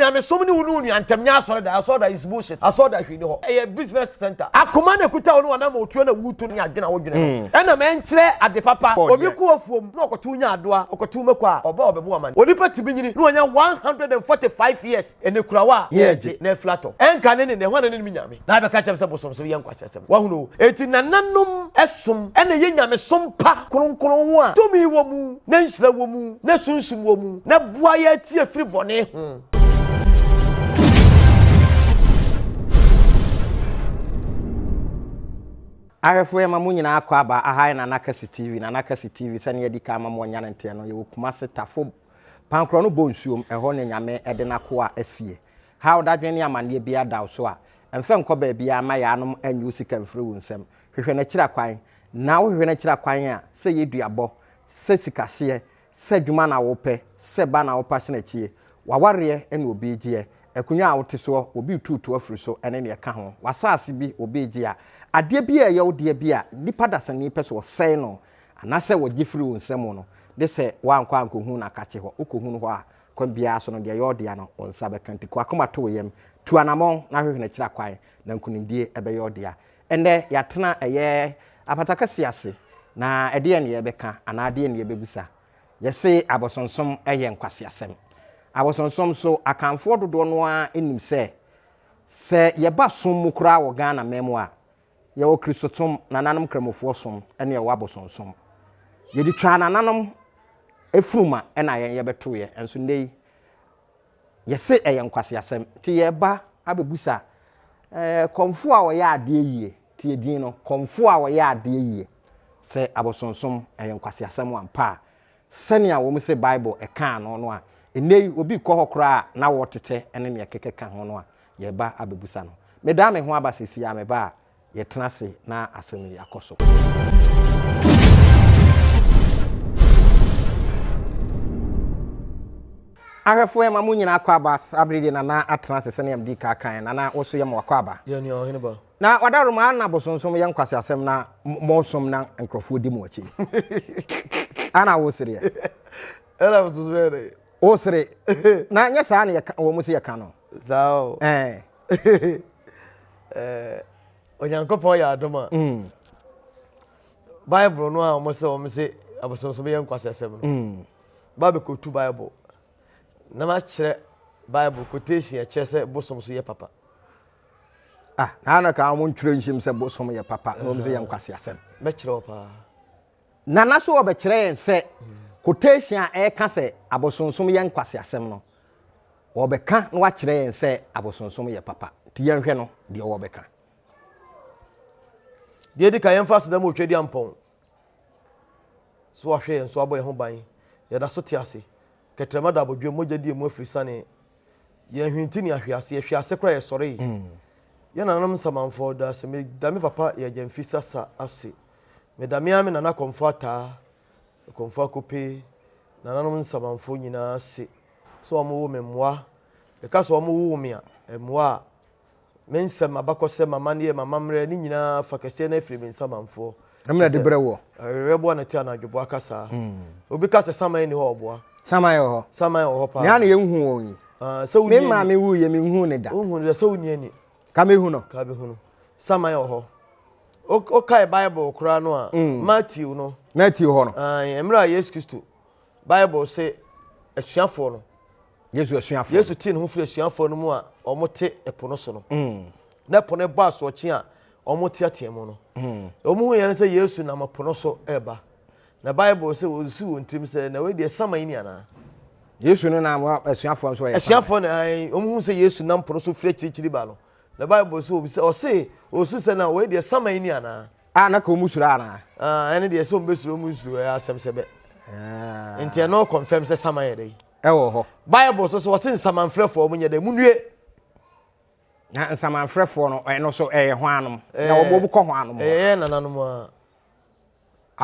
Nyamesom ne wo ne onua ntam nyɛ asɔredan. Asɔredan is bullshit. Asɔredan hwee nni hɔ. Ɛyɛ business center. Akoma na ɛkuta wo ne w'anammɔn tuo na wutu no ne adwene a wodwene no. Ɛnam ɛnkyerɛ ade papa. Obi kɔ afuom na ɔkɔtow nyaadoa, ɔkɔtow mako a, ɔba a ɔbɛbɔ amane. Onipa tumi nyini na wanya one hundred and forty five years, ɛnɛ kurawa a, yɛn agye, na afiri atɔ. Ɛnka ne ne, na ɛhɔ na ne nim Nyame. Na abɛka kyɛm sɛ bosom so yɛ nkwaseasɛm. Wahunu o. Enti nananom som na ɛyɛ nyamesom pa, kronkron ho a tumi wɔ mu, na nhyira wɔ mu, na sunsum wɔ mu, na ɛboa yɛ ti afiri bɔne ho. Ahwɛfo yɛma mo nyinaa akɔ aba, aha yɛ Nana Kɛse TV, Nana Kɛse TV, sɛnea yɛadi kan ama mo anya ne nteɛ no, yɛwɔ Kumase, Tafo, Pankorɔ no bɔ nsuom, ɛhɔ na Nyame de n'akoa asie. Haw, dadwen ne amanneɛ biara da wo so a, mfa nkɔ baabiara mma yaanom nnye wo sika mfiri wo nsam. Hwehwɛ n'akyira kwan. Na wohwehwɛ n'akyira kwan a, sɛ ɛyɛ duabɔ, sɛ sikaseɛ, sɛ adwuma na wopɛ, sɛ ba na wopɛ asenakyie, w'awareɛ ne obi regyeɛ, akonnwa a wote soɔ, obi retuutu afiri so ne deɛ ɛka ho, w'asaase bi, obi regye a, adeɛ biara a ɛyɛ wo dea bi a nnipa dasani pɛ sɛ wɔsɛe no anaasɛ wɔgye firi wo nsam no, gye sɛ woankɔ ankɔhunu no akakye hɔ. Wokɔhunu hɔ a, Kwan biara so no, deɛ ɛyɛ ɔdea no, wo nsa bɛka. Nti kɔ akoma to wo yam, tu anamɔn na hwehwɛ n'akyira kwan, na nkunimdie bɛyɛ ɔdea. Ɛnnɛ, yɛatena ɛyɛ apata kɛseɛ ase, na ɛdeɛn na yɛbɛka anaa deɛn na yɛbɛbisa? Yɛse abosonsom yɛ nkwaseasɛm. Abosonsom so Akanfoɔ dodoɔ no ara nim sɛ, sɛ yɛba som mu koraa wɔ Ghana man mu a, Yɛwɔ Kristosom, nananom Kramofoɔsom, ɛne yɛwɔ abosonsom. Yɛde twaa nananom funuma ɛna yɛn yɛbɛtoeɛ, nso nnɛ yi yɛse ɛyɛ nkwaseasɛm. Nti yɛreba abɛbusa eh, kɔmfoɔ a ɔyɛ adeɛ yie, tie din no, kɔmfoɔ a ɔyɛ adeɛ yie, sɛ abosonsom ɛyɛ nkwaseasɛm ampa a, Sɛnea wɔse Bible kaa no no a, nnɛyi obi rekɔ hɔ koraa a n'awɔ tetɛ ne nea ɛkeka ka ho no a, yɛreba abɛbusa no. Medan me ho aba seesei a meba a, yɛtena ase na asɛm yi akɔ so. Ahwɛfoɔ, yɛma mo nyinaa akwaaba. Saa bere deɛ Nana atena ase sɛnea medii kan kaeɛ. Nana, wo nso yɛma wo akwaaba. Yɛn nua, Ɔhene Ba. Na ɔdawroma a na bosonsom yɛ nkwaseasɛm na mosom na nkurɔfoɔ di mo akyi ana wosereɛ ɛna bosonsom yɛ dɛ wosere na nyɛ saa na yɛka wɔn sɛ yɛka no saa o ɛɛ ɛɛ onyankopɔn yɛ adom a mm. bible no a wɔn sɛ wɔn sɛ abosonsom yɛ nkwaseasɛm no mm. ba bɛkɔtu bible na makyerɛ bible quotation ɛkyerɛ sɛ bosom so yɛ papa ah na na ka wɔn ntwerɛ nhyɛm sɛ bosom yɛ papa na wɔn sɛ yɛ nkwasi asɛm. bɛkyerɛ wɔ paa. nana so wɔbɛkyerɛ yɛn sɛ quotation a ɛka sɛ abosonsom yɛ nkwasi asɛm no wɔbɛka na wakyerɛ yɛn sɛ abosonsom yɛ papa nti yɛnhwɛ no deɛ wɔbɛka. deɛ edi kan yɛn fa aseda mu otwa di ampɔn. So wahwɛ yɛn so abɔ yɛn ho ban? Yɛda so te ase. Kɛtrɛma da abodwoɔ, mogya di emu afiri sanee. Yɛn hwinti ne ahwe ase, yɛhwe ase koraa yɛsɔree. Mm. Yɛn nananom nsamanfoɔ da ase, meda me papa yɛ agya mfi sasa ase. Meda me ara me nana kɔmfo ataa, kɔmfo akope, nananom nsamanfoɔ nyinaa ase. So wɔn wo me mmoa? Yɛka so wɔn wo wo me a, mmoa a, Me nsɛm, abakɔsɛm, m'amanneɛ, m'amammerɛ, ne nyinaa fa kɛseɛ no afiri me nsamanfoɔ. Na mena de brɛ woɔ. Awerɛboa na te anadwoboa ka saa. Hmm. Obi ka sɛ saman ni hɔ ɔboa. Saman wɔ hɔ. Saman wɔ hɔ paa. Nea na yɛnhu wɔn yi. Ah, sɛ wonni ani. Me maa me wuyɛ me nhu ne da. Wohu ne da sɛ wonni ani. Ka mehu no. Ka mehu no. Saman wɔ hɔ. Wokae Bible koraa no a, hmm. Matthew no. Matthew hɔ no. Ah, mmerɛ a Yesu Kristo, Bible se asuafoɔ no. Yesu asuafo. Yesu tee ne ho firi asuafoɔ no mu a wɔte ɛpo no so no. Mm. Na ɛpo no bɔ asoɔkye a wɔteatea mu no. Mm. Wɔn ho yɛn sɛ Yesu nam ɛpo no so ɛreba. Na Bible sɛ wɔsu wɔn tirim sɛ na wei deɛ sama yi ni anaa. Yesu no nam asuafoɔ nso yɛ. Asuafoɔ no ɛn wɔn ho sɛ Yesu nam po no so firi akyirikyiri ba no. Na Bible sɛ wɔn sɛ ɔse wɔsu sɛ na wei deɛ sama yi ni anaa. A na ka wɔn suro anaa. Ah ɛne deɛ sɛ wɔn bɛ suro wɔn suro ɛyɛ asɛm sɛ bɛ. Ah. Nti ɛno confirm sɛ sama yɛ dɛ. ɛwɔ hɔ. bible so so wɔse nsamanfrɛfoɔ ɔmo nyɛ dɛ munue na nsamanfrɛfoɔ no ɛno so ɛyɛ ho anom na wɔn wɔn kɔ ho anom ɛyɛ nananom a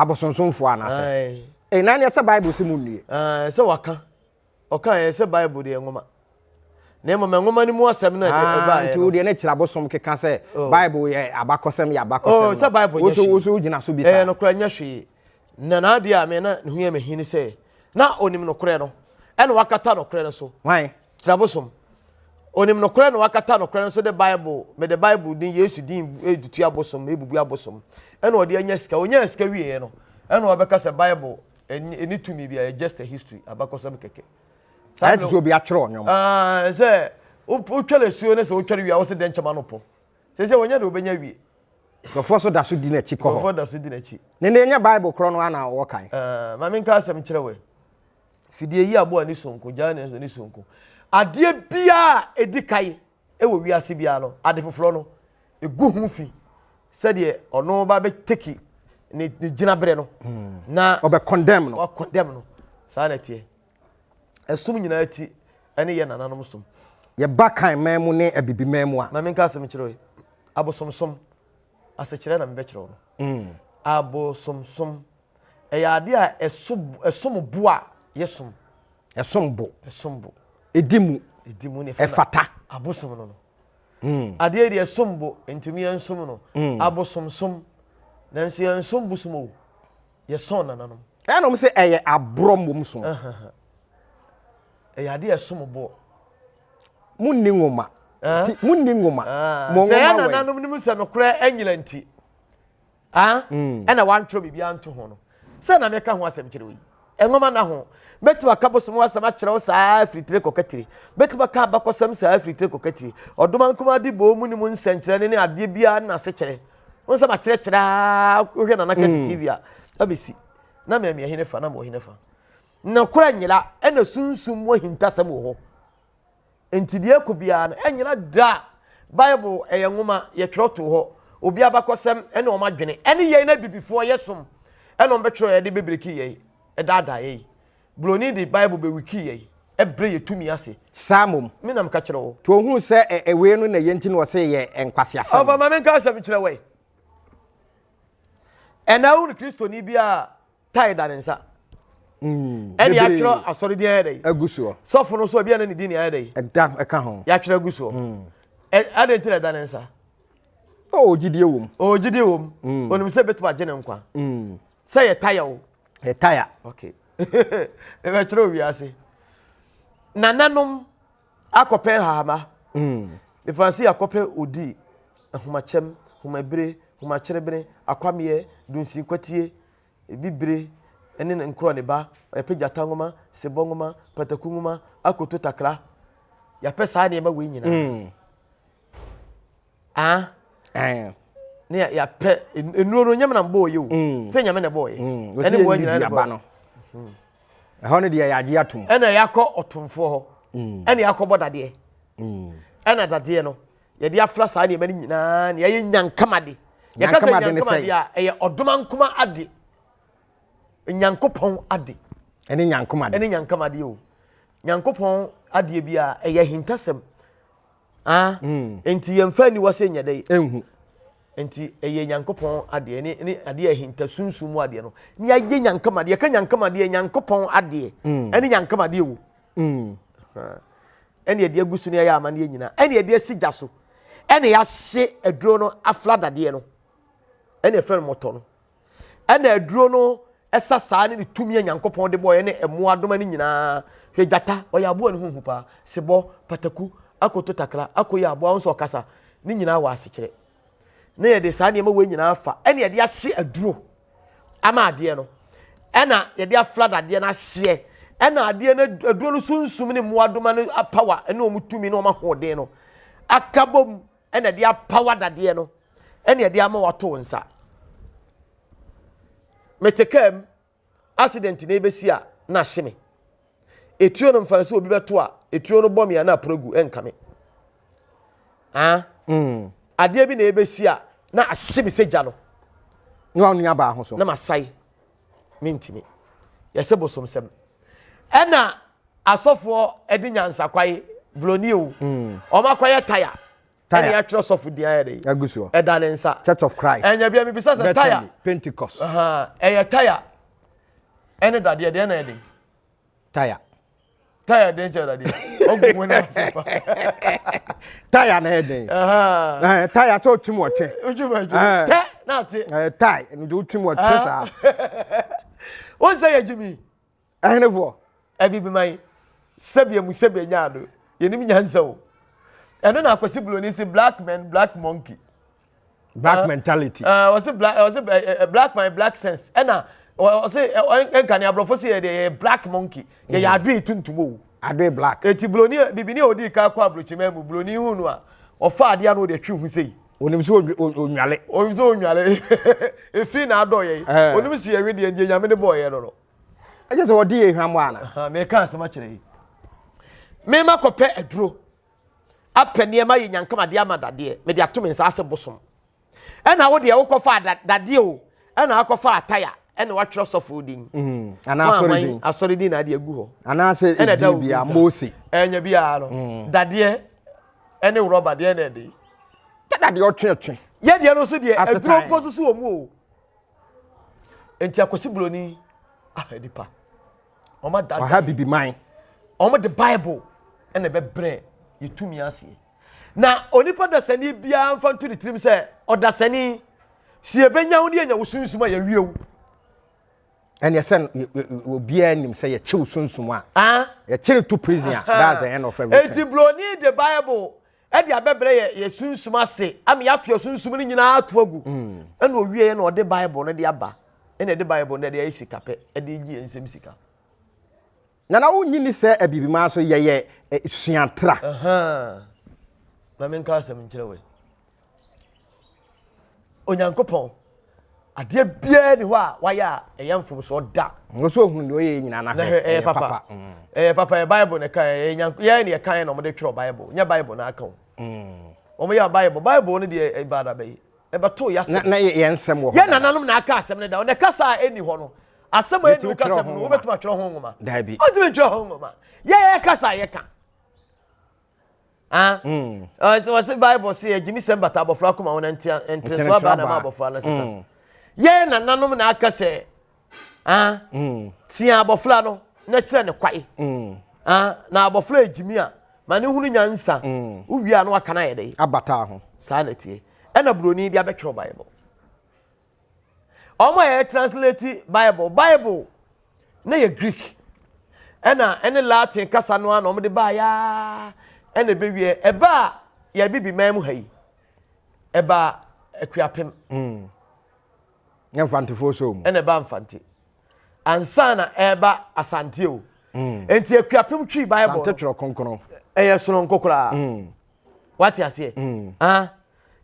abosonsomfoɔ anaasɛ ɛyɛ nan ɛsɛ bible sɛ munue ɛsɛ waka ɔka ɛyɛ sɛ bible deɛ nwoma na mmom nwoma no mu asɛm no ɛde ɛba ayɛ no nti wo deɛ ne kyerɛ abosom keka sɛ bible yɛ abakɔsɛm yɛ abakɔsɛm sɛ bible nyɛ hwee woso woso gyina so bi sa ɛyɛ no kora nyɛ hwee Na n'adeɛ a me na ne ho yɛ me he ne sɛ, na onim nokorɛ no, ɛna wakata nokorɛ no so. Hwan? Kyabosom. Onim nokorɛ na wakata nokorɛ no so de Bible, mede Bible din, Yesu din edutu abosom, ebubu abosom. Ɛna ɔde anya sika. Onyaa sika wieɛ no, ɛna ɔbɛka sɛ Bible ɛni tumi bi a, just a history, abakɔsɛm kɛkɛ. Ayɛ te sɛ obi atwerɛ ɔnwom. Sɛ wotwɛre asuo no sɛ wotwɛre wie a, wo se dɛnkyɛm ano pɔ. Sese wɔnyɛ de wɔbɛnya wie. Nkurɔfoɔ nso da so di n'akyi kɔ hɔ. Nkurɔfoɔ da so di n'akyi. Ne ne nyɛ Bible korɔ no ana wɔwɔ kan. Eh, maame nka asɛm kyerɛ wɛ. Fidie yi aboa ne sonko, gyaa ne ne sonko. Adeɛ biara ɛdi kan ɛwɔ wiase biara no, ade foforɔ no, ɛgu ho fi sɛdeɛ ɔno ba bɛteki ne gyinaberɛ no hmm. na ɔbɛ condemn no. Ɔbɛ condemn no. Saa na ɛteɛ. ɛsom nyinaa ti ne yɛ nananom som. Yɛba kan man mu ne abibi man mu a. Maame nka asɛm kyerɛ yi. Abosomsom asekyerɛ na mebɛkyerɛ wo no. Mm. Abosomsom ɛyɛ adeɛ a ɛsom bo a yɛsom. Ɛsom bo. Ɛsom bo. Ɛdi mu. Ɛdi mu ne ɛfata. Abosom no no. Mm. Adeɛ deɛ ɛsom bo ntumi ɛnsom no. Mm. Abosomsom nanso yɛnsom bosom o yɛsɔn nananom. ɛna wɔn sɛ ɛyɛ aborɔ mmom so ɛyɛ adeɛ ɛsom boɔ mo nni nwoma mo nni nwoma mo nwoma wɛ sɛ yɛn nananom nim sɛ nokorɛ anyina nti ɛna wantwerɛ biribi anto ho no sɛ na meka ho asɛm kyerɛ wo yi nwoma na ho mɛtumi aka bosom asɛm akyerɛ wo saa afiritire kɔkatire mɛtumi aka abakɔsɛm saa afiritire kɔkatire ɔdoma nkoma de bɔɔ mu ne mu nsɛnkyerɛnne ne adeɛ biara ne n'asekyerɛ wọn sɛ makyerɛkyerɛ aa wohwɛ nana kɛse hmm. tv a na mesi na mɛmi ɛhene fa na mɔ ɛhene fa na kora nyela ɛna sunsum wɔ hintasɛm wɔ hɔ nti deɛ ɛkɔ biara no ɛnyela da bible ɛyɛ nwoma yɛtwerɛ to hɔ obi abakɔsɛm ɛne wɔn adwene ɛne yɛn na bibifoɔ yɛ som ɛna wɔn bɛtwerɛ yɛde bebreki yɛn ɛdaadaa yɛn Buroni de Bible bɛ wiki yɛn, ɛbrɛ yɛ tumi ase. Saa mmom. Me na meka kyerɛ wo. To ohun sɛ ɛ ɛwei no na ɛyɛ nti na ɔse yɛ nkwaseasɛm. Ɔfa ma menka asɛm kyerɛ wɛ. Ɛna wo ne Kristoni bi a tae da ne nsa. Mm, ɛne yɛatwerɛ asɔre din ayɛ dɛ agu soɔ sɔfo no so ebi ɛne ne din ayɛ dɛ ɛda ɛka ho yɛatwerɛ agu soɔ mm. ɛde nti na ɛda ne nsa ɔwɔ gyidie wom ɔwɔ gyidie wom onim sɛ bɛtumi agye ne nkwa sɛ yɛ taya o. yɛ taya. okay ɛbɛkyerɛ owi ase nananom akɔpɛ nhahama mm. mefa se akɔpɛ odi ahomakyɛm homabire homakyerebene akwameɛ dunsin kwatie bibire ne nkorɔ ne ba yɛpɛ gyata nwoma sebɔ nwoma pataku nwoma akoto takra yɛpɛ saa nneɛma wei nyinaa mm. Ah. Eh. Ne ya ya pɛ enuro no nyame na mbɔ yɛ o. Mm. Sɛ nyame na bɔ yɛ. Mm. Ɛne bɔ nyina ne bɔ. Mm-hmm. Ɛhɔ ne deɛ yɛagye atom. Ɛna yɛakɔ ɔtomfoɔ hɔ. Mm. Ɛna yɛakɔbɔ dadeɛ. Mm. Ɛna dadeɛ no yɛde afra saa nneɛma no nyinaa na yɛyɛ nyankamade. Yɛka sɛ nyankamade a ɛyɛ ɔdoma nkoma ade. Nyankopɔn ade. Ɛne nyankamade. Ɛne nyankamade o. Nyankopɔn adeɛ bi a ɛyɛ hintasɛm. Ah, mm. nti yɛmfa aniwa sɛ nyɛ dɛ ɛnhu nti ɛyɛ nyankopɔn adeɛ ne ne adeɛ ahinta sunsun mu adeɛ no ne yɛayɛ nyankam adeɛ ka nyankam adeɛ nyankopɔn adeɛ mm. ɛne nyankam adeɛ wo mm. ɛne ɛde agu so ne ɛyɛ amanneɛ nyinaa ɛne ɛde asi gya so ɛne yɛahye aduro no afla dadeɛ no ɛne ɛfrɛ no mɔtɔ no ɛna aduro no ɛsa saa ne ne tumi a nyankopɔn de bɔɔyɛ ne ɛmo adoma no nyinaa hwɛ gyata ɔyɛ aboa ne ho hu paa sebɔ pataku akoto takra akoyɛ aboa nso ɔkasa ne nyinaa wɔ asekyerɛ na yɛde saa nneɛma wɔ nyinaa fa ɛna yɛde ahye aduro ama adeɛ no ɛna yɛde aflad adeɛ no ahyeɛ ɛna adeɛ no aduro no sunsum ne mmoadoma no apawa ɛne wɔn tumi ne wɔn ahoɔden no akabom ɛna ɛde apaw adadeɛ no ɛna ɛde ama wato wo nsa mete kaa mu accident na ebesi a na ahye me etuo no mfa sɛ obi bɛto a etuo no bɔ me a na aporo gu ɛnka me ah mm. adeɛ bi na ebesi a na ahye me sɛ gya no na wɔn nua baa ho so na ma sae. mentimi yɛsɛ bosomsɛm ɛna asɔfoɔ ɛde nyansakwae broni o hmm. wɔn akɔyɛ taya ɛna yɛatwerɛ sɔfo din ayɛ de ɛda ne nsa church of christ ɛnyɛ bia mebisa sɛ taya pentecost ɛyɛ taya ɛne dadeɛ deɛ na ɛde taya taya den kyɛ dadeɛ ɔgu mu na ɔsɛ pa taya na yɛ den taya sɛ ɔtum ɔkyɛ tɛ na ate tae ɛno de wotum ɔkyɛ saa won sɛ yɛ gyimi ɛhenefoɔ ɛbi bi man sɛbia mu sɛbia nyaa no yɛnim nyansa o ɛno na akwasi buloni se black man black monkey black uh, mentality uh, ɔse black ɔse uh, eh, eh, black my black sense ɛna ɔse ɛnka ne aborɔfo se yɛde yɛyɛ black monkey yɛyɛ mm. adoe tuntum o adoe black eti buroni bibini a odi ka kɔ aburokyimɛ mu buroni hu no a ɔfa adeɛ ano ɔde atwi ho sei onim sɛ onwale onim sɛ onwale efi na adɔ yɛ eh. onim si yɛwe deɛ deɛ nyame de bɔɔ yɛ no no ɛkyɛ sɛ ɔde yɛ hwam ana meka asɛm akyerɛ yi mema kɔpɛ aduro apɛ nneɛma yɛ nyankama de ama dadeɛ mede ato me nsa ase bosom ɛna wo deɛ wokɔfa dadeɛ o ɛna akɔfa ataya ɛna watwerɛ sɔfo din mm, anaasɔredin asɔredin na adeɛ gu hɔ anaasɛ ɛna da obi nsa mose ɛnya biara no mm. dadeɛ ɛne rɔba deɛ na ɛde dadeɛ ɔtweɛtwe yɛ deɛ no so deɛ aduro mpo soso wɔ mu o nti akɔsi buroni ah nipa wɔn adada ɔha bibi man wɔn de bible ɛna ɛbɛbrɛ yɛtumi aseɛ na onipa dasani biara mfa nto ne tirim sɛ ɔdasani si yɛbɛnya wo ne yɛnya wo sunsum a yɛwie wo ɛne sɛ obiara nim sɛ yɛkyew sunsum a yɛkyere to prison a that's the end of everything enti broni de bible ɛde abɛbrɛ yɛ yɛ sunsum ase ama yɛato asunsum no nyinaa ato agu mm. ɛna ɔwieɛ na ɔde bible no de aba ɛna ɛde bible no de ayɛ sika pɛ ɛde gye yɛ nsɛm sika nana wonyi ni sɛ abibimaa so yɛyɛ suatra na menka asɛm nkyerɛ wei Onyankopɔn. Adeɛ biara ni hɔ a wayɛ a ɛyɛ mfomsoɔ da. Wɔsɛ ohun deɛ ɔyɛ nyinaa na hwɛ ɛyɛ papa. Mm. Ɛyɛ papa yɛ Bible na ɛka yɛ nyank yɛ na ɛka yɛ na wɔde twerɛ Bible nyɛ Bible na aka o. Mm. Wɔn yɛ Bible Bible no deɛ ɛba eh, adaba yi ɛbɛto yɛ asɛm. Na yɛ yɛn nsɛm wɔ hɔ. Yɛ nananom na aka asɛm no da ɔna kasa a ɛni hɔ no asɛm a ɛni kasa mu no wɔbɛtuma twerɛ ho nwoma. Daabi. Ɔtumi twerɛ ho nwoma. Yɛ yɛ kasa yɛ ka. wɔse bible se agyimi sɛ mbata abɔfra koma ho na nteneso aba na ma abɔfra no sesa mm. yɛn nananom na aka sɛ mm. tia abɔfra no na kyerɛ ne kwae mm. na abɔfra agyimi a ma ne hunu nyansa wowie a no aka no ayɛ dɛ abata ho saa na tie ɛna buroni bi abɛtwerɛ bible wɔn a yɛ translate bible bible na yɛ greek ɛna ɛne latin kasa no a na wɔn de baa yaa ɛna ebewie ɛba a yɛ bibi man mu ha yi ɛba akuapem. Mm. yɛ mfantefoɔ so mu. ɛna ɛba mfante ansa na ɛba asante o. Mm. nti akuapem twi bible. asante twerɛ kronkron. ɛyɛ soronko koraa. Mm. wate aseɛ mm. ah,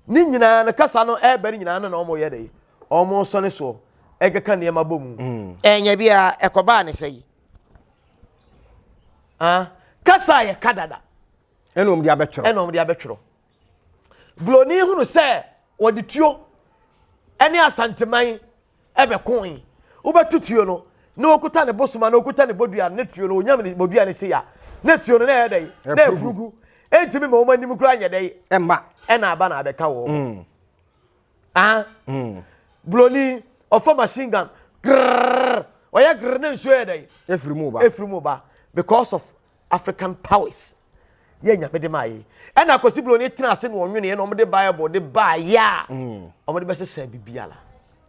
ne nyinaa no kasa no ɛreba no nyinaa no na wɔyɛ dɛ wɔn sɔne soɔ ɛkeka nneɛma bɔ mu mm. ɛnyɛ biara ɛkɔbaa ne sɛ yi ah, kasa a yɛka dada ɛna wɔn de abɛtwerɛ ɛna wɔn de abɛtwerɛ buroni hunu sɛ wɔde tuo ɛne asanteman bɛkoe. Wobɛto tuo no na ɔkuta ne bosoma na ɔkuta ne bodua ne tuo no ɔnyam ne bodua no sei a na tuo no na ɛyɛ dɛn na ɛpurugu ɛntumi ma wɔn anim kura nyɛ dɛn ɛma ɛna aba na abɛka wɔn mm. ah mm. buroni ɔfa machine gun grrrr ɔyɛ grrrr na nsuo yɛ dɛn efiri mu ba efiri mu ba because of African powers yɛ nyame de maa yɛ ɛna akwasi bulo ne tena ase na ɔnwene yɛ na ɔmo de bible de baa yɛ a mm. ɔmo de bɛsesa bibiara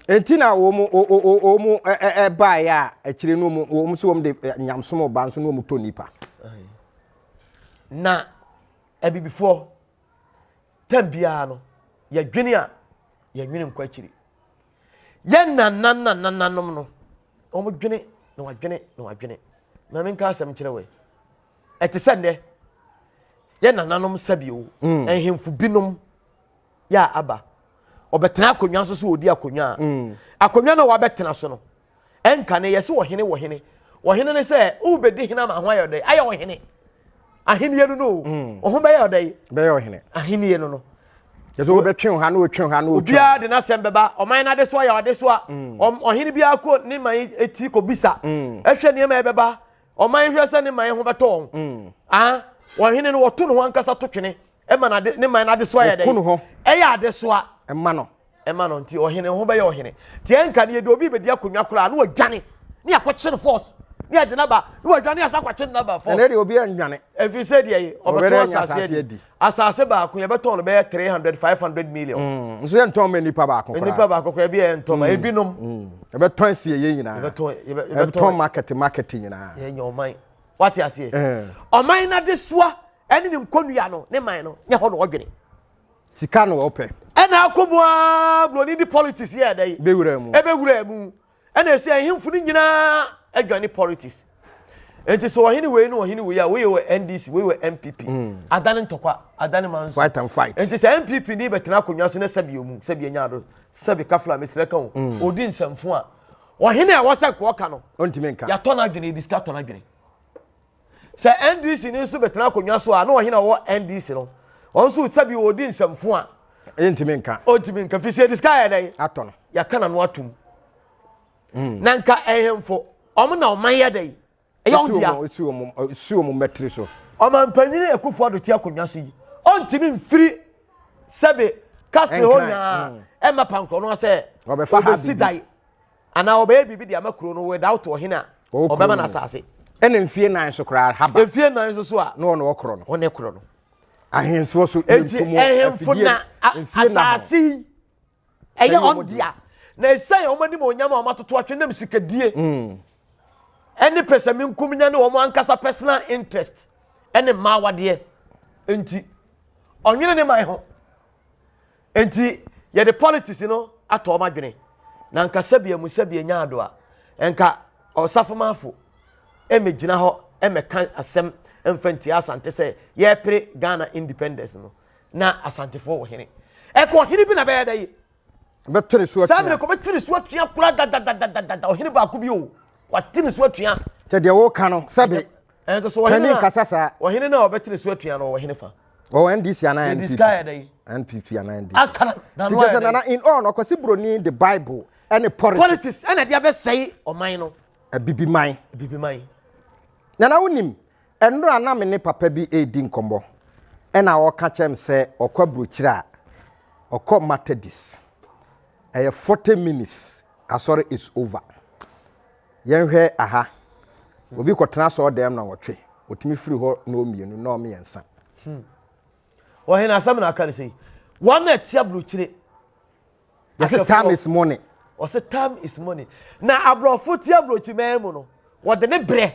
nti na wɔn wɔn ɛbaa yɛ a akyire no wɔn wɔn so wɔn de nyamsom ɔbaa nso na wɔn tɔ nipa. na abibifoɔ tɛm biara no yɛdwene a yɛdwene nkɔ akyiri yɛn nanananananom no wɔn dwene na wɔadwene na wɔadwene maame nka asɛm kyerɛ wɔ yi. ɛte sɛ nnɛ yɛ nananom sɛbi o mm. nhemfo binom yɛ a aba ɔbɛtena akonnwa nso so ɔdi akonnwa a mm. akonnwa no wabɛtena so no ɛnka ne yɛse ɔhene wɔhene ɔhene ne sɛ wobɛdi hene ama ho ayɛ ɔdɛ ayɛ ɔhene ahenniɛ no no o mm. ɔho bɛyɛ ɔdɛ bɛyɛ ɔhene ahenniɛ no no yɛsɛ wobɛtwe wo ha na wotwe ha na wotwe obiara de n'asɛm bɛba ɔman no ade so ayɛ ɔde so a ɔhene biara kɔ ne man ɛti kɔbisa ɛhwɛ nneɛma ɛbɛba ɔman hwɛ sɛ ne man ho bɛtɔ wɔn mm. ah, wɔn hene no wɔto ne ho ankasa to twene ɛma na ne man n'adesoa yɛ dɛ ɛyɛ adesoa ɛma no ɛma no nti ɔhene ho bɛyɛ ɔhene tiɛ nka ne yɛde obi bɛdi akonnwa koraa ne wɔdwane ne akɔkye no force ne yɛde naba ne wɔdwane asa akɔkye no naba force ɛnɛ deɛ obi anwane ɛfiri sɛ deɛ ɔbɛto asase adi asase baako yɛbɛtɔn no bɛyɛ three hundred five hundred million. Mm, nso yɛ ntɔn ma nipa baako koraa nipa baako koraa ebi yɛ ntɔn ma mm, ebinom. Mm. yɛbɛtɔn si yɛ nyinaa yɛbɛtɔn yɛbɛtɔn market market nyinaa. yɛ nyɛ ɔman wate aseɛ eh. ɔman n'adesoa ɛne ne nkonnua no ne man no nyɛ hɔ na ɔdwene. sika na ɔpɛ. ɛna akɔ mu aa buroni di politics yɛ ɛdɛ yi. ebewura mu ebewura mu ɛna ɛsɛ ahemfo no nyinaa adwane politics nti sɛ ɔhene wei ne ɔhene wei a woyɛ wɔ ndc woyɛ wɔ npp hmm. adane ntɔkwa adane ma nso nti sɛ npp ni bɛtena akonnwa so ne sɛbi ɔmu sɛbi ɛnya ado sɛbi kafla mesrɛ ka o hmm. ɔdi nsɛmfo a ɔhene a wɔsɛ kɔɔka no yɛatɔ no adwene ebi sika tɔ no adwene Sɛ NDC ni nso bɛtena akonnwa so a, na ɔhena ɔwɔ NDC no? Wɔn nso sɛ bi ɔredi nsɛmfo a. Ɛntumi nka. Ɔntumi nka fi sɛ yɛde sika yɛ dɛn? Atɔ no. Yɛaka n'ano atom. Hmm. Na nka ɛhemfo, wɔn na ɔman yɛ dɛn? Ɛyɛ wɔn dea. Esi wɔn esi wɔn mɛtiri so. Ɔmanpanyin Akufo Addo te akonnwa so yi, ɔntumi mfiri sɛbe kasiri hɔ nyinaa hmm. ɛma pankorɔ no sɛ ɔbɛsi dan. anaa ɔbɛyɛ biribi de ama kuro no without ɔhene a ɔbɛma no asase ɛna mfie nan so koraa haba mfie nan so so a na ɔne ɔkorɔ no ɔne korɔ no ahemfo so enti ahemfo na asase yi ɛyɛ ɔn dea na ɛsɛn wɔn anim onyam a wɔn atoto atwe nam sikadie mm. ɛne pɛsɛmi nkumnya ne wɔn ankasa personal interest ɛne mmaawadeɛ nti ɔnwene ne man ho Enti yɛde politics no atɔ wɔn adwene na nka sɛbi emu sɛbi enya ado a nka ɔsafomanfo mmegyina hɔ mmɛka asɛm mfa ntia asante sɛ yɛpere Ghana independence no na asantefoɔ wɔ hene ɛkɔ ɔhene bi na bɛyɛ dɛ yi bɛte ne so atua saa mmerɛ kɔ bɛte ne so atua kora dadadadadada ɔhene baako bi o wate ne so atua sɛ deɛ wɔka no sɛbe ɛnso so ɔhene no kasa saa ɔhene no a ɔbɛtene so atua no ɔhene fa ɔwɔ ndc anaa npp ndc ayɛ dɛ npp anaa ndc akana na no ayɛ dɛ nana in all ɔkɔsi broni the bible ɛne politics politics ɛna ɛde abɛsɛe ɔman no abibi man abibi man nana wonim ɛnora na me ne papa bi ɛredi nkɔmmɔ ɛna ɔka kyɛm sɛ ɔkɔ aburokyire a ɔkɔ matadis ɛyɛ 40 minutes asɔre is over Yɛnhwɛ aha. Obi kɔtena asɔɔdɛm na wɔtwe. Otumi firi hɔ nnɔɔ mmienu, nnɔɔ mmiɛnsa. Hmm. Ɔhene asɛm na aka no sɛ yi. Wɔn a ɛte aburukyire. Yɛsɛ time is money. Ɔsɛ time is money. Na aborɔfo te aburukyire mɛn mu no, wɔde ne brɛ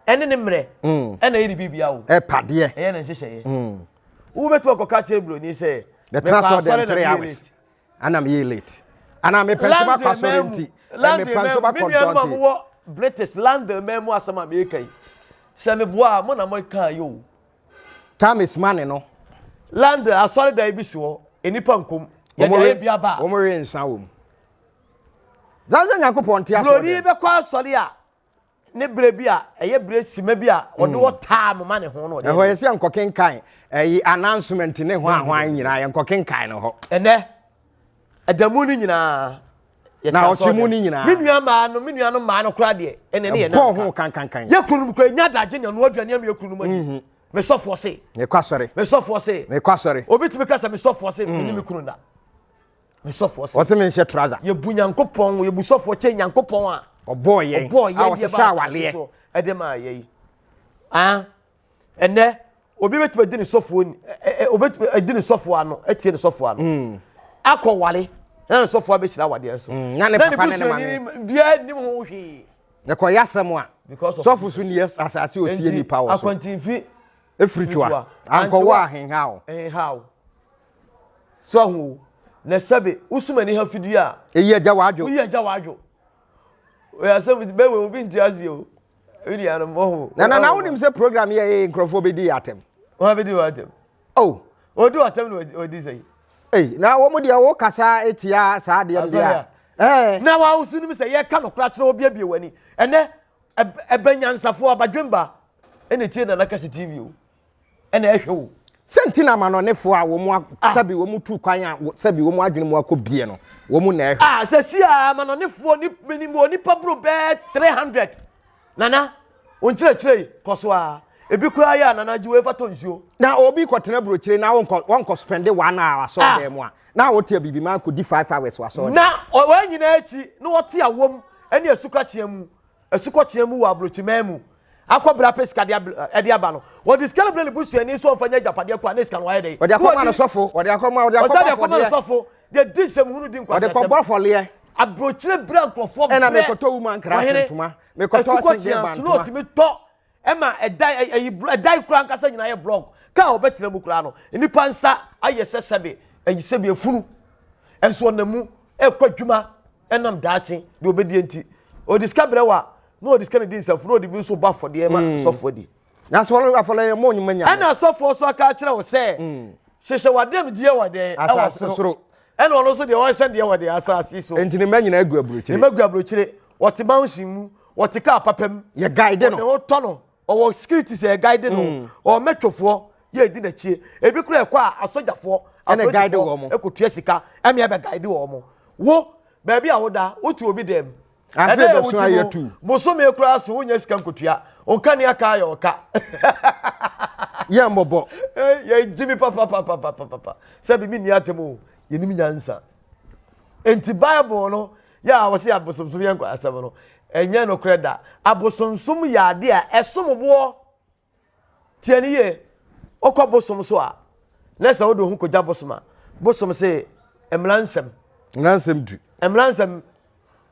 ɛne ne mmerɛ hmm. ɛna yɛ ne biribia wo. Ɛpadeɛ. Ɛyɛ ne nhyehyɛeɛ. Hmm. Wobɛtumi akɔka kyerɛ buroni sɛ. Bɛtena asɔɔdɛm three hours. ana meyɛ late ana mepɛ nso makɔ asɔre nti mepɛ nso makɔ dɔnti british london man mu asɛm a meyɛka yi sɛ meboa a mo na moka yi o time is money no london asɔre dan bi si hɔ nnipa nkom yɛde ayɛ bi aba a wɔwe nsa wɔ mu zansa nyankopɔn nte asɔre buroni bɛkɔ asɔre a ne berɛ bi a ɛyɛ berɛ sima bi a ɔde hmm. ɔtaa mo ma ne ho no ɔde ɛhɔ yɛ sɛ nkɔkenkan ɛyi announcement ne ho ahoa nyinaa yɛ nkɔkenkan no hɔ ɛnɛ ɛda mu no nyinaa na ɔte mu no nyinaa me nua maa no me nua no maa no koraa deɛ ɛnɛ ne yɛ na ɛbɔ ho kankankan yɛ kunu mu kura nya adagye na ɛnoa aduane ama yɛ kunu mu ani mhm. me sɔfoɔ se me kɔ asɔre me sɔfoɔ se me kɔ asɔre obi tumi kasa me sɔfoɔ se me ne me kunu na Me sɔfoɔ sɛ. Ɔse me nhyɛ trouser. Yɛbu Nyankopɔn, yɛbu sɔfoɔ kyɛ Nyankopɔn a. Ɔbɔɔ yɛn. Ɔbɔɔ yɛn deɛ ba asase so ɛde maa yɛn. Ah, ɛnɛ obi bɛtumi adi ne sɔfoɔ ni, obɛtumi adi ne sɔfoɔ ano, atie ne sɔfoɔ ano. Hmm. Akɔ wale, na ne sɔfoɔ abɛhyira awadeɛ so. Hmm, na ne papa ne ne maame. Biara nim ho hwee. Yɛkɔyɛ asɛm a, sɔfo so nni asase osie nipa wɔ so. Akwantinfi. Efiri toa. Ankɔwɔ ahenhaw. Ahenhaw. So ahu o. Na sɛbe, wosum ani ha fidie a. Eyi agya w'adwo. Woyi agya w'adwo. Oye asɛm ti bɛwɛ obi nti ase o. Ebi di ano mo ho. Na na na wonim sɛ program yɛ ee nkurɔfoɔ bɛdi yɛ atɛm. Wɔn abɛdi wɔn atɛm. Oh. Odi wɔn atɛm na odi sɛ yi. Ei na wɔn deɛ wo kasa etia saa adeɛ no deɛ. Ɛɛ. Na wa wosu nim sɛ yɛ ka no kora kyerɛ obi abie w'ani. Ɛnɛ ɛbɛ nyansafoɔ abadwemba ɛna etie na na kɛse TV o. na ɛhwɛ wo. Sɛ nti na amanɔnefo a wɔn ah. sɛbi wɔn tu kwan a sɛbi wɔn adwene mu akɔ bie no wɔn na ɛhwɛ. Ah, a sɛ si a amanɔnefoɔ ni minim wɔ nipa buro bɛɛ three hundred nana wɔn kyerɛkyerɛ yi kɔ so a ebi kura yɛ a nana gye wɔn efa tɔ nsuo. na obi kɔ tena burokyire na wɔn kɔ wɔn kɔ spɛnde one hour asɔ ah. dɛm a na wɔte abibi maa kɔ di five hours wasɔ dɛm. na wɔn nyinaa akyi na wɔte awom ɛne asukakyeɛ mu. asukɔkyea mu wɔ aburokyiman mu akɔ bere apɛ sika de de aba no wɔde sika no brɛ ne busuani nso ɔmfa nyɛ agyapadeɛ kɔ a ne sika no ayɛ dɛn wɔde akɔma no sɔfo wɔde akɔma wɔde akɔma no sɔfo de di nsɛmhunu di nkwasɛsɛm wɔde kɔbɔ afɔleɛ aburokyire bere nkurɔfoɔ brɛ ɛna mekɔtɔ wuma nkra ntoma mekɔtɔ asɛnkyɛn ba ntoma ɛna mekɔtɔ asɛnkyɛn ba ntoma Ɛma ɛdan ɛ ɛyi bl ɛdan koraa ankasa nyinaa yɛ blɔk. Kaa a wɔbɛtena mu koraa no, nnipa nsa ayɛ sɛ sɛbe ayi sɛbe afunu. Nso ɔnam mu rekɔ adwuma nam daakye deɛ ɔbɛdie nti. Ɔde sika brɛ wo a, na ɔde sika no di nsafunu, na ɔde bi nso bɔ afɔdeɛ ma sɔfoɔ di. Nanso wɔn no afɔdeɛ yɛ mɔnyi ma Nyame. Ɛna asɔfoɔ nso aka akyerɛ wo sɛ, Hyehyɛ w'adamdeɛ wɔ dɛn? Ɛwɔ Asase soro. Ɛna ɔno nso deɛ ɔhyɛ deɛ wɔ dɛn? Asase so. Enti ne mma nyinaa gu aburokyire. Ne mma gu aburokyire. Wɔte mansion mu. wɔte kaa papa mu yɛ guide no ɔne ho tɔ no ɔwɔ security sɛ yɛ guide no mm. ɔwɔ mɛtwofoɔ yɛ edi n'akyie ebi kura ɛkɔ a asogyafoɔ apolisifoɔ ɛkotua sika ɛmi ɛbɛ guide wɔn mo wo baabi a woda wotu obi dɛm ɛdɛ yɛ wotu no bosome kura so wonya sika nkotua onka ni aka ayɛ ɔka yɛ mbɔbɔ yɛ gyi mi papapapapapa sɛbi mi ni atɛm o yɛ ni mi nyansa nti bible no. Yɛ a wɔse abosomsom yɛ nkwasɛm no, ɛnyɛ nokorɛ da. Abosomsom yɛ adeɛ a ɛsom boɔ. Tie ne yie, wokɔ bosom so a, na sɛ wode wo ho kɔgya bosom a, bosom se mmara nsɛm. Mmara nsɛm du. Mmara nsɛm,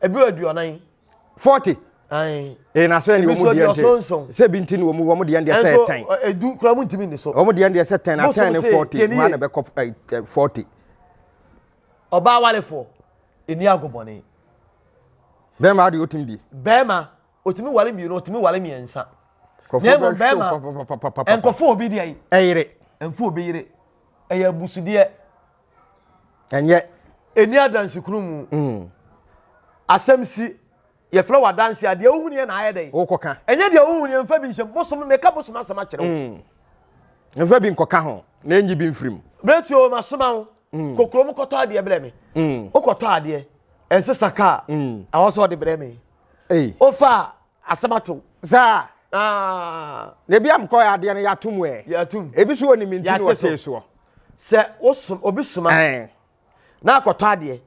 ebi wɔ aduonan. Forty. Ayi. Ee na so ɛni wɔn deɛ nti sɛ ebi nti ni wɔn wɔn deɛ ndeɛ sɛ ɛtɛn. Ɛnso edu kura mu ntumi ni so. Wɔn deɛ ndeɛ sɛ tɛn na tɛn ne forty mu ana bɛ kɔ forty. Ɔbaa awarefoɔ ɛni agobɔne. Bɛrima adeɛ ɔtumi die. Bɛrima ɔtumi ware mmienu ɔtumi ware mmiɛnsa. Na mmom bɛrima nkɔfo obi deɛ yi. Ɛyere. Mfo obi yere. Ɛyɛ abusudeɛ. Ɛnyɛ. Ɛni adansi kunu mu. Mm. Asɛm si yɛfrɛ wɔ adansi a deɛ wohuni yɛ na ayɛ dɛ. Wokɔka. Ɛnyɛ deɛ wohuni yɛ mfa bi nhyɛm bosom meka bosom asɛm akyerɛ wo. Mm. Mfa bi nkɔka ho na ɛnyi bi mfirim. Berɛ tuo masoma wo. mm. kɔ kurom kɔtɔ adeɛ brɛ me mm. wokɔtɔ adeɛ ɛnsesa kaa mm. awɔ sɛ ɔde brɛ me wofa asɛm ato saa ah. na ebi amkɔ yɛ adeɛ no yɛatom ɛ yɛatom ebi so wɔ ne menti no wɔtee soɔ sɛ wosom obi soma na akɔtɔ adeɛ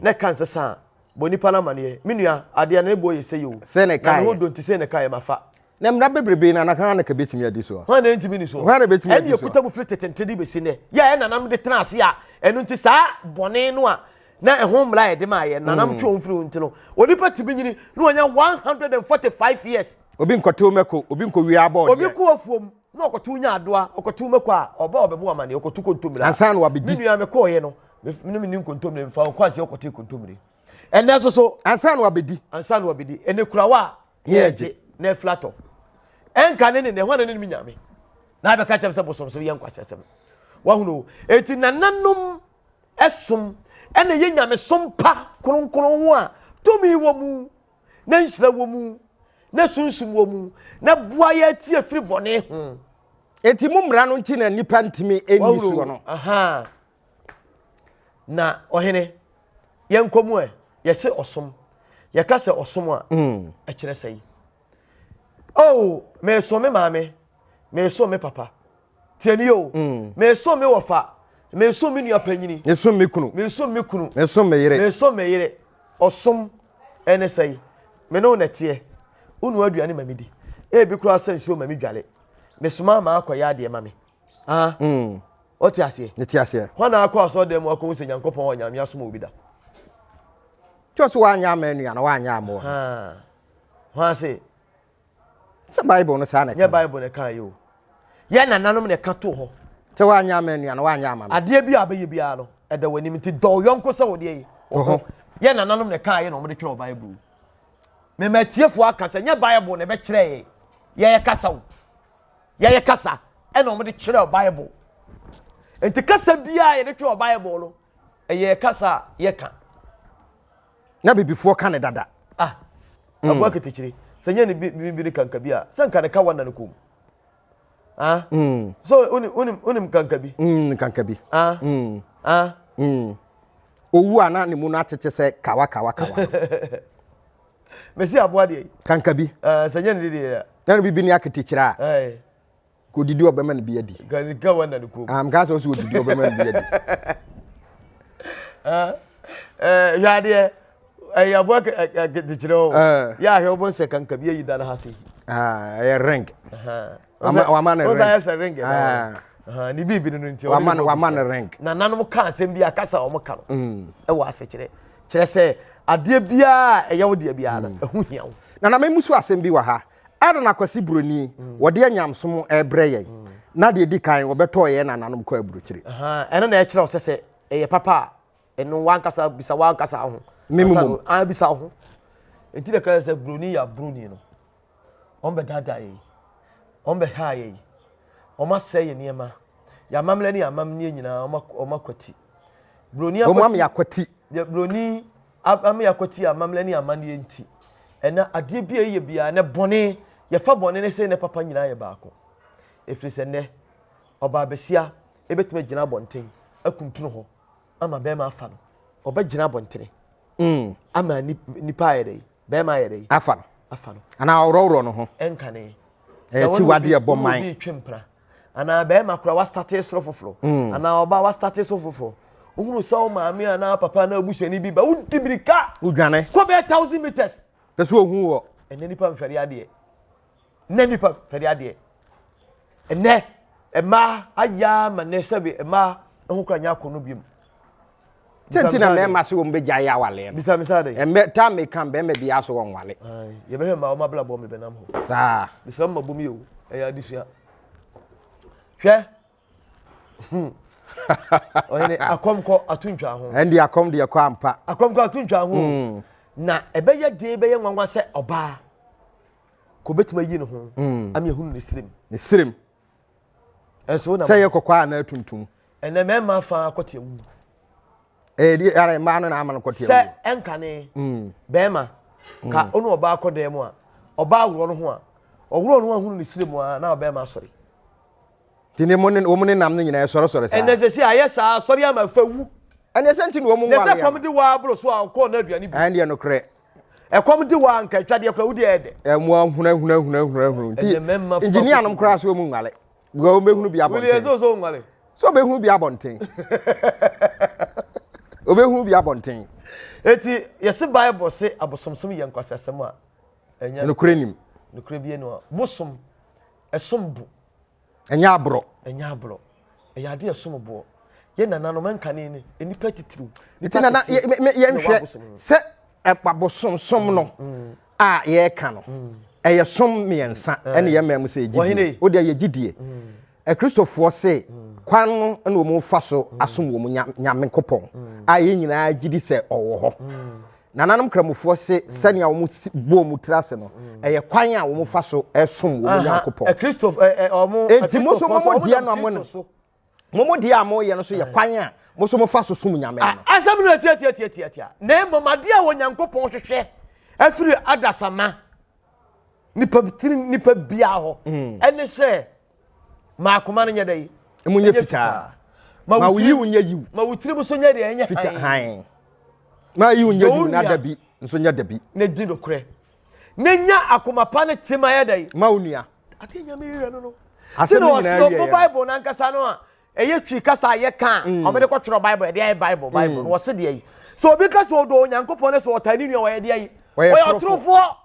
na ɛka nsesa a bɔ nipa no amaneɛ me nua adeɛ no ɛbɔ yɛ sɛ yɛ o na ne ho donti sɛ ne ka yɛ mafa Na mmara bebrebe na na hwan na ka betumi adi so? Hwan na entumi ni so? Hwan na betumi adi so? Ɛne ekuta mu firi tetente de besi nnɛ. Yɛ a ɛnanam de tena ase a ɛno nti saa bɔne no a na ɛho mmara a yɛde maa yɛ nanam twe wɔn firi ho nti no, onipa tumi nyini na wɔnya 145 years. Obi nkɔtew mako, obi nkowia abɔɔdeɛ. Obi kɔ afuom na ɔkɔtew nya adoa, ɔkɔtew mako a ɔba a ɔbɛbɔ amane, ɔkɔtu kontommire a. Ansa na wabedi. Me nua mekɔɔeɛ no, me ne me ni nkontommire mfa, ɔkɔ ase ɔkɔte kontommire. Ɛnɛ nso so. Ansa na wabedi. Ansa na wabedi. Ɛnɛ kurawa a ne ɛgye na afilatɔ ɛnka ne ne ne hwan ne ne nyame na abɛka kyɛm sɛ bosom so yɛ nkwasɛsɛm wahunu eti nananom ɛsom ɛna yɛ nyamesom pa kronkron ho a tumi wɔ mu na nhyira wɔ mu na sunsum wɔ mu na boa yɛ atie firi bɔne ho eti mu mmara no nti na nipa ntumi ɛnni soɔ no na ɔhene yɛnkɔ mu ɛ yɛse ɔsom yɛka sɛ ɔsom a mm. ɛkyerɛ sɛ yi oh meeso me maame meeso me papa tiɛni o mm. meeso me wɔfa meeso me nua panyini meeso me kunu meeso me kunu meeso me yere meeso me yere ɔsom ɛne sɛ yi me ne wo na ɛteɛ wonua aduane ma me di ebi koraa sɛ nsuo ma me dwale mesoma ma akɔyɛ adeɛ ma me Ah. Mm. What you say? What you say? When I call so them, I come say Nyankopon wa nyame asom obi da. Just wa nya menu ya na wa nya mo. Ah. When I say Sɛ Bible no saa na ɛka. Nyɛ Bible na ɛka yi o. Yɛ nananom na ɛka to hɔ. Sɛ wa nya menu ya na wa nya ama. Adeɛ bi a bɛyɛ biara no ɛda wɔ anim nti dɔw yɔnko sɛ wɔdeɛ yi. Ɔhɔ. Yɛ nananom na ɛka yɛ na wɔde twerɛ Bible. Mɛmɛ tiefo aka sɛ nyɛ Bible na ɛbɛkyerɛ yɛ yɛ kasa o. yɛyɛ kasa ɛna wɔn de twerɛ bible nti kasa biara yɛde twerɛ bible no ɛyɛ kasa a yɛka na bibifoɔ ka ne dada ah mm. aboa ketekyire sɛ nyɛ ne bibi ne kanka bi a sɛ nka ne ka wa na ne kɔn mu ah mm. so onim onim onim kanka bi mm, kanka bi ah mm. ah mm. owu a na ne mu no atete sɛ kawa kawa kawa mesi aboa deɛ yi. kanka bi. ɛɛ sɛ nyɛ ne deɛ yɛ. na ne bibi ne aketekyerɛ a. ɛɛ. ka odidi ɔbɛma ne bi adi. ka ka wa na ne kurom. am ka sɛ ɔsɛ odidi ɔbɛma ne bi adi. ɛɛ hwɛ adeɛ ɛyɛ aboa aketekyerɛ o. yɛ ahwɛ wɔn sɛ kanka bi ayi da ne ha se. ɛyɛ ring. wama ne ring ah. ne biribi no nti wama no wama ne ring na nanom ka asɛm bi akasa a wɔn ka no mm. ɛwɔ asekyerɛ kyerɛ sɛ adeɛ biara ɛyɛ wo deɛ biara no mm. ɛho hia wo na na memu so asɛm bi wɔ ha ada na kwasi buroni mm. wɔde anyamsom ɛbrɛ yɛn na deɛ di kan wɔbɛtɔɔ yɛn nananom kɔ aburokyire ɛno na ɛkyerɛ wo sɛ sɛ ɛyɛ papa a ɛno wankasa bisa wankasa ho mimum an bisa ho nti na kaya sɛ broni ya broni no wɔn bɛ dada yɛ wɔn bɛ ha yɛ wɔn asɛ yɛ nneɛma yamamlɛ ne yamamnie nyinaa wɔn wɔn akwati broni akwati wɔn am yakwati yɛ broni am yakwati yamamlɛ ne yamamnie nti ɛna adeɛ bi a yɛ biara ne bɔne yɛfa bɔne ne sɛ ne papa nyinaa yɛ baako efiri sɛ nnɛ ɔbaa besia ebetumi gyina abɔnten akuntunu hɔ. ama bɛrima afa no ɔbɛgyina abɔntene mm. ama nipa ayɛ dɛ bɛrima ayɛ dɛ afa no afa no anaa ɔworɔworɔ no ho ɛnka ne ɛyɛ ti wade ɛbɔ man obi twem pra anaa bɛrima kora wastate soro foforɔ mm. anaa ɔba wastate soro foforɔ wohunu sɛ wo maame anaa papa anaa abusuani bi ba wodi birika wodwane kɔ bɛyɛ thousand meters pɛ sɛ ɔhu wɔ ɛnɛ nipa mfɛre adeɛ Nnɛ nipa fɛde adeɛ. Nnɛ mmaa ayɛ ama nnɛ sɛbi mmaa ho kora nyɛ akɔ no biom. Sɛnti na mmarima se wɔn bɛgya yɛ awaleɛ no. Bisa misa de. Ɛmɛ taa mi kan bɛrima bi aso wɔn wale. Yɛbɛhwɛ mmaa wɔn abla bɔ mi bɛnam hɔ. Saa. Bisa mu ma bɔ mi o. Ɛyɛ adesua. Hwɛ. Hmm. ɔyɛne akɔm kɔ ato ntwa ho ɛnde akɔm deɛ kɔ ampa akɔm kɔ ato ntwa ho hmm. na ɛbɛyɛ den bɛyɛ nwanwa sɛ ɔbaa Ka obetumi ayi ne ho mm. ama ehunu ne srem. Ne srem. Ɛso na. Sɛ yɛ kɔkɔɔ a na atuntum. Ɛnna mmarima fa akɔte awu. Ɛyɛ di ara mmaa no na ama no kɔte awu. Sɛ ɛnkane. Mm. Bɛrima. Mm. Ka ɔno ɔbaa kɔ dan mu a ɔbaa worɔ no ho a ɔworɔ no ho ahunu ne srem a na ɔbɛrima asɔre. Ti ne wɔn ne nam no nyinaa ɛsɔresɔre saa. Ɛnna sɛ si ayɛ saa asɔre ama fawu. Ɛnna ɛsɛ nti na wɔn nwale. Ɛsɛ kɔm de waa aboro so a ɔkɔɔ n'aduane bi. Ɛnna ɛyɛ nokorɛ. ɛkɔm de wɔ anka atwadeɛ koraa wode ɛyɛ dɛ ɛmo ahunahunahunahunahunu nti engineer nom koraa so ɔmu nwale because wɔn bɛhunu bi abɔnten wili ɛsɛ ɔsɔ nwale so ɔbɛhunu bi abɔnten ɔbɛhunu bi abɔnten eti yɛsi bible se abosomsom yɛ nkwasi asɛm a ɛnyɛ nokore nim nokore bi ɛnu a bosom ɛsom bu Ɛnyɛ aborɔ. Ɛnyɛ aborɔ. Ɛyɛ adeɛ a ɛsom boɔ. Yɛn nananom nkane no, nnipa titiriw. Nti na yɛnhwɛ sɛ abosomsom no mm, mm. a yɛreka no, mm. ɛyɛ som mmiɛnsa eh. ɛne yɛn mmaa mu sɛ yɛgye die. Wodeɛ yɛgye die. Akristofoɔ se kwan no na wɔn fa so asom wɔn nyame kopɔn a yɛn nyinaa gye di sɛ ɔwɔ hɔ. nananom kramofoɔ se mm. sɛnea wɔn bɔ wɔn tiri ase no mm. ɛyɛ kwan a wɔn fa so ɛsom wɔn nyankopɔn eti mo so mo deɛ no mo no mo deɛ a mo yɛ no so yɛ kwan a mo so mo fa so som nyame no. asɛm no atiatiatiatia na mmom adeɛ a wɔn nyankopɔn hwehwɛ afiri adasama nipa tirim nipa bia hɔ mm. ɛne sɛ. Ma akoma no nyɛ dɛ. Emu nyɛ fitaa. Ma wo yiw nyɛ yiw. Ma wo tirim nso nyɛ deɛ ɛnyɛ fitaa hann. Ma yiw nyɛ yiw na dabi nso nyɛ dabi. Na di nokorɛ. Na nya akoma pa ne tema yɛ dɛ. Ma wo nua. Adeɛ nyame yɛ no no. Asɛm no nyinaa wie yɛ. Sɛ Bible no ankasa no a ɛyɛ twi kasa a yɛka a mm. wɔde kɔtwerɛ Bible ɛde ayɛ Bible Bible no mm. wɔse deɛ yi. Sɛ obi ka sɛ ɔdɔ Onyankopɔn ne sɛ ɔtaa ne nua wɔyɛ deɛ yi. Wɔyɛ ɔtorofoɔ.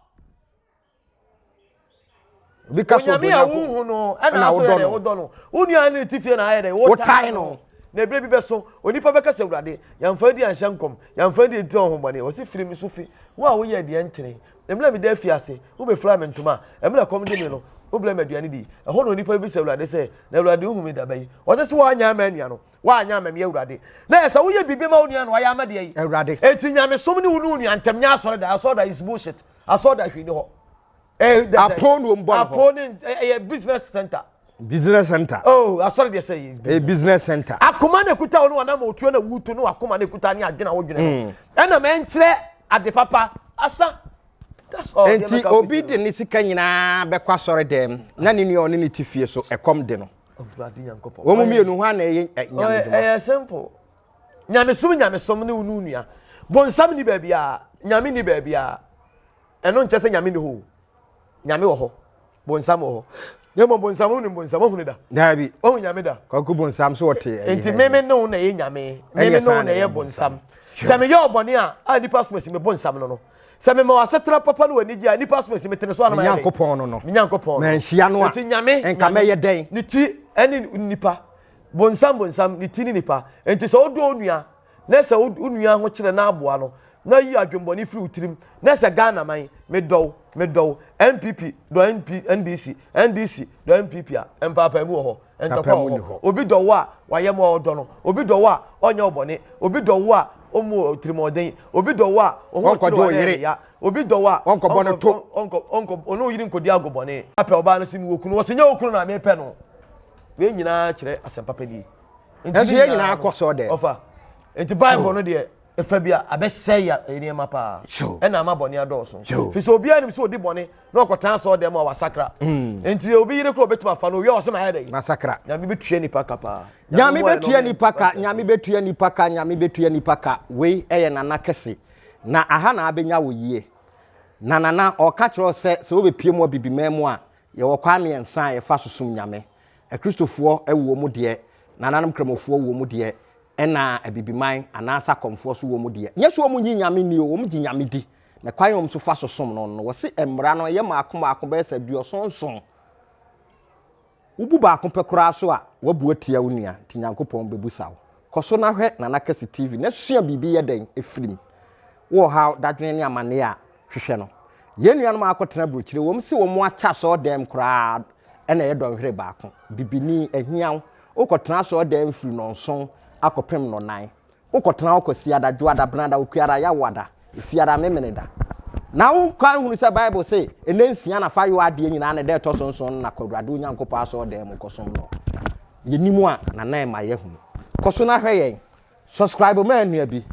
obi ka sɛ onyame a wonhu no ɛna so yɛ dɛ wodɔ no wo nua ne ti fie na ayɛ dɛ wotae no na ebire bi bɛso onipa bɛka sɛ awurade yɛmfa di anhyɛ nkɔm yɛmfa di nti ɔhombɔne wɔsi firi me so fi wo a woyɛ deɛ nkyene mmerɛ meda afie ase wobɛfira me ntoma mmerɛ kɔm de me no wobrɛ me aduane di ɛhɔ na onipa bi sɛ awurade sɛ na awurade wohu me daba yi ɔsɛ sɛ woanyɛ ama anua no woanyɛ ama me awurade na yɛ sɛ woyɛ biribi ma wo nua no ayɛ ama deɛ yi awurade enti nyamesom ne wo ne wo nua ntɛm nyɛ asɔre da asɔre da is bullshit Asɔ da hwee ni hɔ. Eh, dɛ, apon na wɔn bɔ no hɔ. Apon ne eh, ɛyɛ business center. Business center. Oh, asɔre deɛ sɛ yɛ. Ɛyɛ business center. Akoma na ekuta wɔn wɔn ama otuo na wutu no akoma na ekuta ne adwene a wodwene no. Mm. Ɛna mɛ nkyerɛ ade papa asa. Nti obi de ne sika nyinaa bɛkɔ asɔre dɛm na ne nua ɔne ne ti fie so ɛkɔm de no. Wɔn mmienu hɔ ana ɛyɛ nyamedwuma. Ɛyɛ simple. nyamesom nyamesom ne wo ne onua bonsam ni baabi a nyame ni baabi a ɛno nkyɛ sɛ nyame ni hɔ nyame wɔ hɔ bonsam wɔ hɔ na mmom bonsam ho nim bonsam ɔhunu da daabi ɔhu nyame da kɔkɔ bonsam so ɔte nti meme ne wo na ɛyɛ nyame meme ne wo na ɛyɛ bonsam sɛ meyɛ ɔbɔne a a nipa som asi me bonsam no no sɛ mema wasetena papa no w'anigye a nipa som asi metene so anoma nyankopɔn no no nyankopɔn no manhyia no a nti nyame nka mɛyɛ dɛn ne ti ɛne nipa Bonsam bonsam, ne ti ne nipa. Enti sɛ wodɔ wo nua, na sɛ wo nua ho kyerɛ na aboa no, na yi adwembɔne firi wo tirim, na sɛ Ghana man, medɔ wo, medɔ wo, NPP dɔ NP, NDC, NDC dɔ NPP a, mpaapaemu wɔ hɔ, ntɔkwa wɔ hɔ. Obi dɔ wo a, wayɛ ma ɔdɔ no. Obi dɔ wo a, ɔnyɛ wo bɔne. Obi dɔ wo a, ɔmmu wo tirimɔden. Obi dɔ wo a, wo ho kyere wo a, na ɛyɛ ne ya. Obi dɔ wo a, ɔnkɔ, ɔnkɔ, ɔnkɔ, ɔne wo yere nkɔdi agobɔne. Apɛ ɔbaa no se, mewɔ kunu. Ɔse, nyɛ wo kunu na mepɛ no. wei nyinaa kyerɛ asɛmpa pɛ nie nti yɛ nyinaa kɔ sɛ ɔdɛ ɔfa nti bible no deɛ ɛfa bi a abɛsɛe ya nneɛma paa ɛna ama bɔne adɔɔso fi sɛ obiara nim sɛ ɔdi bɔne na ɔkɔtaa sɛ ɔdɛ mu a wasakra mm. nti obi yere korɔ ɔbɛtumi afa no owia ɔsɛ maayɛ dɛ masakra nyame bɛtua nipa ka paa nyame bɛtua nipa ka nyame bɛtua nipa ka nyame bɛtua nipa ka wei ɛyɛ nana kɛse na aha na abɛnya wo yie na nana ɔka kyerɛ sɛ sɛ wobɛpie mu abibiman mu a Yɛwɔ kwan mmiɛnsa a yɛfa so som Nyame. Akristofoɔ wɔ mu deɛ, Nananom Kramofoɔ wɔ mu deɛ, ɛna Abibiman anaa Sakɔmfoɔ nso wɔ mu deɛ. Nyɛ sɛ wɔn nnye Nyame nni o, wɔn gye Nyame di. Na kwan a wɔn nso fa so som no no, wɔse mmara no yɛ mmaako mmaako bɛyɛ sɛ aduɔson nson. Wobu baako pɛ koraa so a, wabu atia wo nua, nti Nyankopɔn bɛbusa wo. Kɔ so na hwɛ Nana Kɛse TV na sua biribi yɛ dɛn firi mu. Wo ɔhaw, dadwene ne amanneɛ a, hwehwɛ no. Yɛn nuanom a wɔakɔtena aburokyire, wɔn se wɔn akyɛ asɔɔdɛm koraa na ɛyɛ dɔnhwere baako. Bibini, ahiaw, wokɔtena asɔɔdɛm firi nnɔnson akɔpem nnɔnan. Wokɔtena hɔ Kwasiada, Dwoada, Benada, Okuada, Yawoada, Efiada, Memeneda. Na wo kɔ ahunu sɛ Bible se, Nna nsia na fa yɔ adeɛ nyinaa, na da ɛtɔ so nson no na kɔ Awurade wo Nyankopɔn asɔɔdɛm mu kɔsom no. Yɛnim a, na na ɛma yɛahunu. Kɔ so na hwɛ yɛn. Subscribe ma nua bi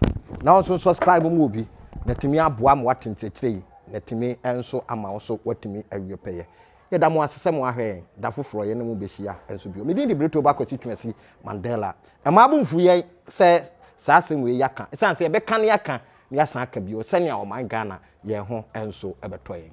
na ɔnso subscribe ma obi na tumi aboa ma wate nkyerɛkyerɛ yi na tumi nso ama wo so watumi awie pɛyɛ. Yɛda mo ase sɛ mo ahwɛ yɛn da foforɔ yɛne mo bɛhyia nso bio. Me din de Brito Ba Kwasi Twumasi Mandela. Ɛmaa bo mfu yɛn sɛ saa asɛm wei yɛaka ɛsiane sɛ yɛbɛka ne aka ne yɛasan aka bio sɛnea ɔman Ghana yɛn ho nso ɛbɛtɔ yɛn.